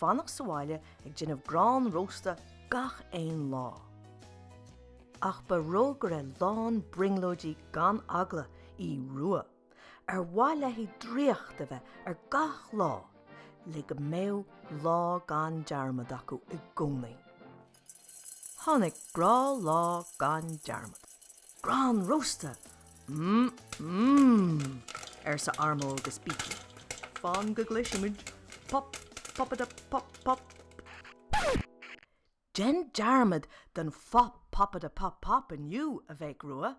fanacht sa bhaile ag déanamh grán rósta gach aon lá. Ach ba rógaire lán brionglóidí gan eagla í Rua, ar mhaith léi draíocht a bheith ar gach lá le go mbeadh lá gan dearmad acu i gcónaí. Tháinig grá lá gan dearmad. Grán rósta! Mmm! arsa Armo agus Beaky. Fan go gcloisimid pop popadup pop pop! Dein dearmad den phop popadup pop pop inniu, a bhéic Rua!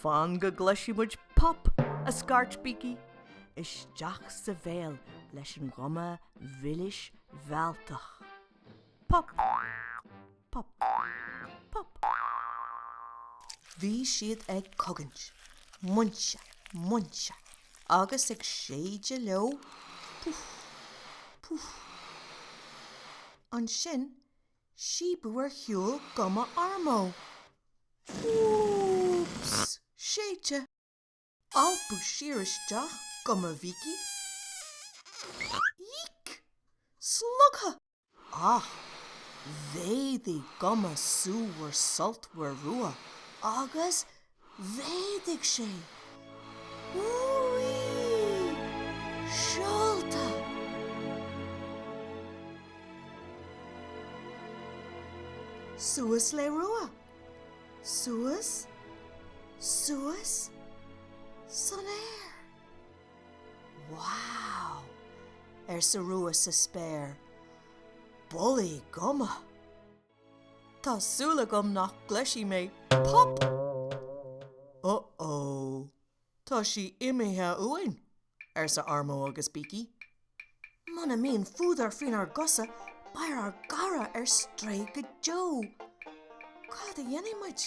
Fan go gcloisfidh muid pop! a scairt Beaky isteach sa bhéal leis an ghuma mhilis mhealltach. Pop! Pop! Pop! Bhí siad ag cogaint, muince, muince, agus ag séideadh leo, puf! puf! Ansin síobadh ar shiúl guma Armo Úúúúps! séidte alpadh siar isteach guma Bheaky Eek! slogtha ach mhéadaigh guma súmhar sultmhar Rua agus Mhéadaigh sé Úúí seolta. Suas le Rua. Suas, suas san aer. Wow! arsa Rua sa spéir. Bullaí guma! Tá súil agam nach gcloisfidh mé pop! Uh-oh. Tá sí imithe uainn! arsa Armo agus Beaky. Muna mbíonn fuadar faoinár gcosa, beidh ár gcara ar strae go deo! Cad a dhéanfaidh muid?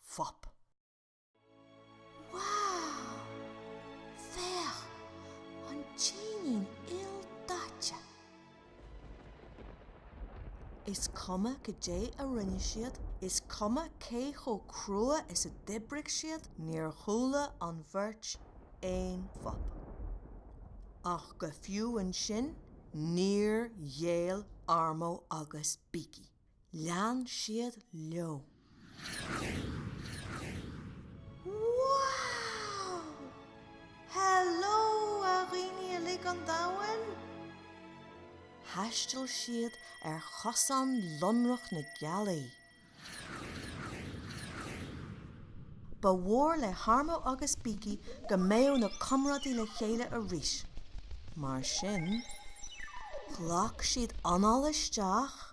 Phop. Wow! Féach! An t-éinín ildaite! Is cuma goidé a rinne siad, is cuma cé chomh crua is a d'oibrigh siad, níor chuala an bheirt aon phop. Ach go fiú ansin níor ghéill Armo agus Beaky. Lean siad leo. Wow! Hello a dhaoine uilig an domhain! Thaistil siad ar chosán lonrach na gealaí. Ba mhór le hArmó agus Biki go mbeadh na comrádaithe le chéile arís, mar sin ghlac siad anáil isteach,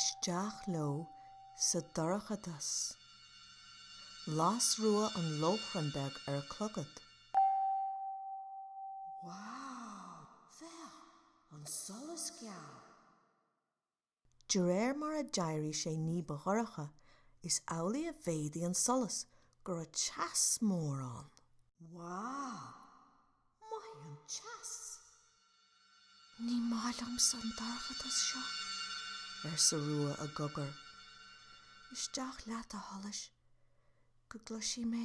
Isteach leo sa dorchadas. Las Rua an lóchrann beag ar a clogad. Wow! Féach! An solas geal! De réir mar a d'éirigh sé ní ba dhorcha, is amhlaidh a mhéadaigh an solas, go raibh teas mór ann. Wow! Maith an teas! Ní maith liomsa an dorchadas seo, arsa Rua i gcogar. Isteach leat, a sholais, go gcloisfidh mé.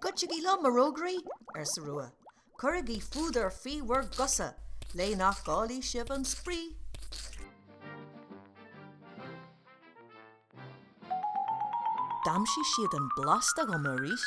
Goitsigí liom, a rógairí! arsa Rua. Cuirigí fuadar faoi bhur gcosa, le nach gcaillfidh sibh an spraoi! D'aimsigh siad an blasta dhom arís.